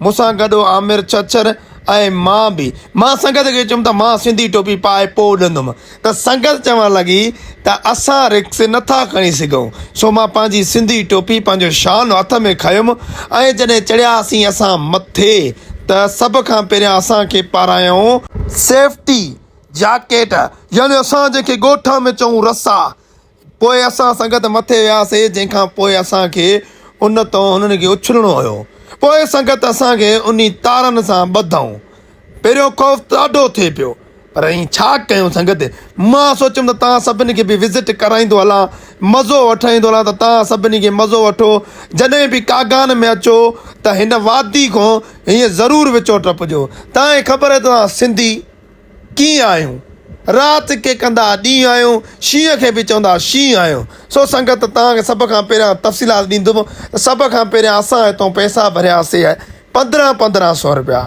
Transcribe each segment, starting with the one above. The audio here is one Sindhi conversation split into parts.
مون سان گڏ عامر ڇڇر ۽ مان به مان سنگت کي چيم ته مان سنڌي ٽوپي پائي پوء اڏندم ته سنگت چوڻ لڳي ته اسان رڪس نٿا کڻي سگهون سو مان پنهنجي سنڌي ٽوپي پنهنجو شان هٿ ۾ کنيم ۽ جڏهن چڙهياسين اسان مٿي ته سڀ کان پهريان اسان کي پارايائون سيفٽي جاڪيٽ يعني اسان جنهن کي ڳوٺان ۾ چئون رسا پوء اسان سنگت مٿي وياسين، جنهن کان پوء اسان کي ان تان هنن کي اڇلڻو هيو. پوء سنگت اسان کي انهي تارن سان ٻڌائون. پهريون خوف ته ڏاڍو ٿئي پيو، پر ائين ڇا ڪيون سنگت؟ مان سوچيم ته توهان سڀني کي به وزٽ ڪرائيندو هلان، مزو وٺرائيندو هلان ته توهان سڀني کي مزو وٺو. جڏهن به ڪاگان ۾ اچو ته هن وادي کان هيئن ضرور وچو ٽپجو. توهان کي خبر آهي ته توهان سنڌي. ڪيئن آهيون، رات کي ڪندا ها ڏينهن آهيون، شينهن کي به چوندا ها شينهن آهيون. سو سنگت توهان کي سڀ کان پهريان تفصيلات ڏيندم ته سڀ کان پهريان اسان هتئون پئسا ڀريا سي پندرهن پندرهن سو روپيا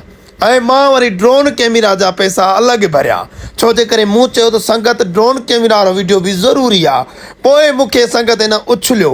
۽ مان وري ڊرون ڪئميرا جا پئسا الڳ ڀريا ڇو جي ڪري مون چيو ته سنگت ڊرون ڪئميرا وارو وڊيو به ضروري آ پوء مون کي سنگت ان اڇليو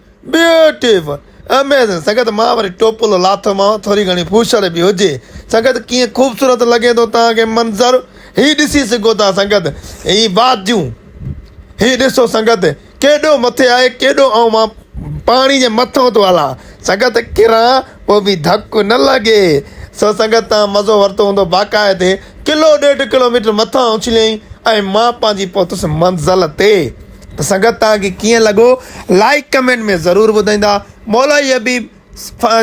Beautiful! Amazing! سنگت مان وري ٽوپلو لاٿو مانو ٿوري گهڻي ڦوشڙ به هجي. سنگت ڪيئن خوبصورت لڳي ٿو توهان کي منظر هي ڏسي سگهو ٿا سنگت هي واديون هي ڏسو سنگت ڪيڏو مٿي آهي ڪيڏو آئون مان پاڻي جي مٿان ٿو هلان سنگت ڪران پوء به ڌڪ نه لڳي سو سنگت توهان مزو ورتو هوندو باقاعدي ڪلو ڏيڍ ڪلو ميٽر مٿان اڇليائين ۽ مان پنهنجي پهتس منزل تي ته سنگت توهان کي ڪيئن لڳو لائيڪ ڪمينٽ ۾ ضرور ٻڌائيندا مولائي حبيب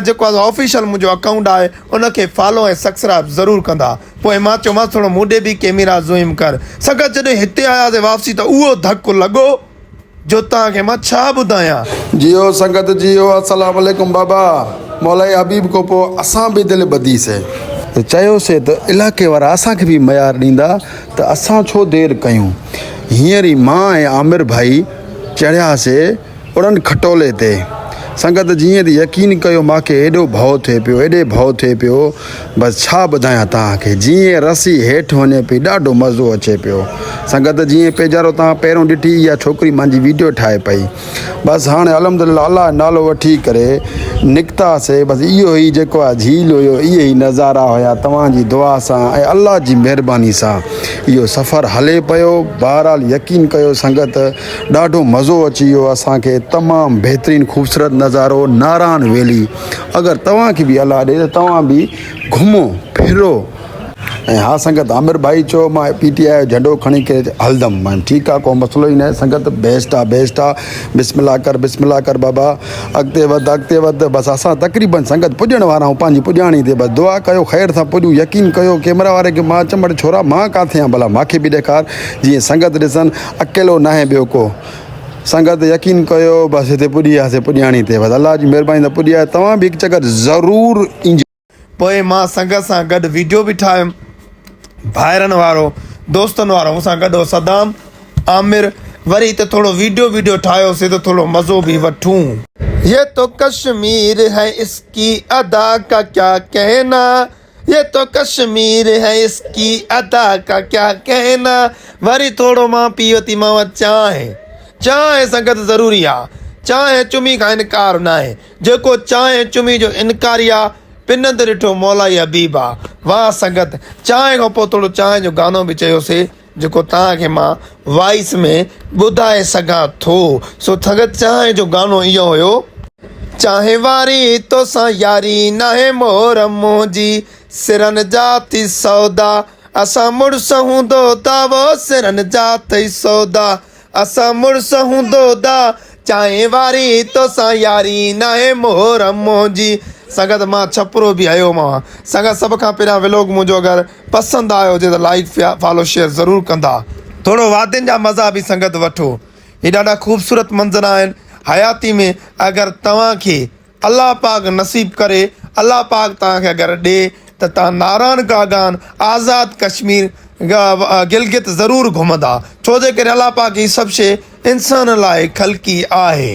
جيڪو آ آفيشل منهنجو اڪائونٽ آهي ان کي فالو ۽ سڪسرائب ضرور ڪندا پوء مان چيومانس ٿورو مون ڏي به ڪيميرا زوئم ڪر سنگت جڏهن هتي آياسي واپسي ته اهو ڌڪ لڳو جو توهان کي مان ڇا ٻڌايان. جيو سنگت جيو السلام عليڪم بابا مولائي حبيب کون پو اسان به دل ٻڌي سي. ته چيو سي ته علائقي وارا اسان کي به ميار ڏيندا. ته اسان ڇو دير ڪيون. هينئر ئي مان ۽ عامر ڀائي چڙهياسي اڙن کٽولي تي. سنگت جيئن ته يقين ڪيو ماکي ايڏو ڀئو ٿئي پيو ايڏي ڀئو ٿئي پيو بس ڇا ٻڌايان توهان کي جيئن رسي هيٺ وڃي پئي ڏاڍو مزو اچي پيو سنگت جيئن پيجارو توهان پهريون ڏٺي اها ڇوڪري مانجي ويڊيو ٺاهي پئي. بس هاڻي الحمدلله الله جو نالو وٺي ڪري نڪتا سي بس اهو ئي جيڪو آ جھيل هيو اهي ئي نظارا هيا توهان جي دعا سان ۽ الله جي مهرباني سان اهو سفر هلي پيو بهرحال يقين ڪيو سنگت ڏاڍو مزو اچي ويو اسان کي تمام بهترين خوبصورت نظارو نارائڻ ويلي اگر توهان کي به الله ڏي ته توهان به گھمو ڦرو ۽ ها سنگت عامر ڀائي چيو مان پي ٽي آء جو جهنڊو کڻي ڪري هلندم مان چيم ٺيڪ آ ڪو مسئلو ئي ناهي سنگت بيسٽ آ بيسٽ آ بسم الله ڪر بسم الله ڪر بابا اڳتي وڌ اڳتي وڌ بس اسان تقريبن سنگت پڄڻ وارا آهيون پنهنجي پڄاڻي تي بس دعا ڪيو خير سان پڄون يقين ڪيو ڪيمرا واري کي مان چيم اڙي ڇورا مان ڪاٿي آهيان ڀلا مانکي به ڏيکار جيئن سنگت ڏسن اڪيلو ناهي ٻيو ڪو سنگت يقين ڪيو بس هتي پڄي وياسي پڄاڻي تي بس الله جي مهرباني سان پڄي وياسي توهان به هڪ چڪر ضرور ايجو. پوء مان سنگت سان گڏ ويڊيو به ٺاهيم. ڀائرن وارو، دوستن وارو، مون سان گڏ هو صدام، عامر، وري هتي ٿورو ويڊيو ويڊيو ٺاهيوسين ته ٿورو مزو به وٺون. يي تو ڪشمير هي اس ڪي ادا ڪا ڪيا ڪهنا، يي تو ڪشمير هي اس ڪي ادا ڪا ڪيا ڪهنا، وري ٿورو مان پي وتيمانو چانهه، چانهه سنگت ضروري آ، چانهه چمي کائڻ ڪار ناهي. جيڪو چانهه چمي جو انڪاري آ، پنند ڏٺو مولائي حبيب آ. واه سنگت! چانهه کان پوء ٿورو چانهه جو گانو به چيوسي، جيڪو توهان کي مان وائيس ۾ ٻڌائي سگهان ٿو. سو سنگت چانهه جو گانو اهو هيو. چانهه واري توسان ياري ناهي مور منهنجي سرن جا ٿي سودا اسان مڙس هوندو تاوو سرن جا ٿئي سودا. اسان مڙس هون دودا چانهه واري توسان ياري ناهي محرم منهنجي. سنگت مان ڇپرو به هيو ماء سنگت سڀ کان پهريان ولوگ منهنجو اگر پسند آيو هجي ته لائيڪ فالو شيئر ضرور ڪندا ٿورو وادين جا مزا به سنگت وٺو هي ڏاڍا خوبصورت منظر آهن حياتي ۾ اگر توهان کي الله پاڪ نصيب ڪري الله پاڪ توهان کي اگر ڏي ته توهان ناران ڪاگان آزاد ڪشمير گلگت ضرور گهمندا ڇو جي ڪري الله پاڪ هي سڀ شي انسان لاء خلقي آهي.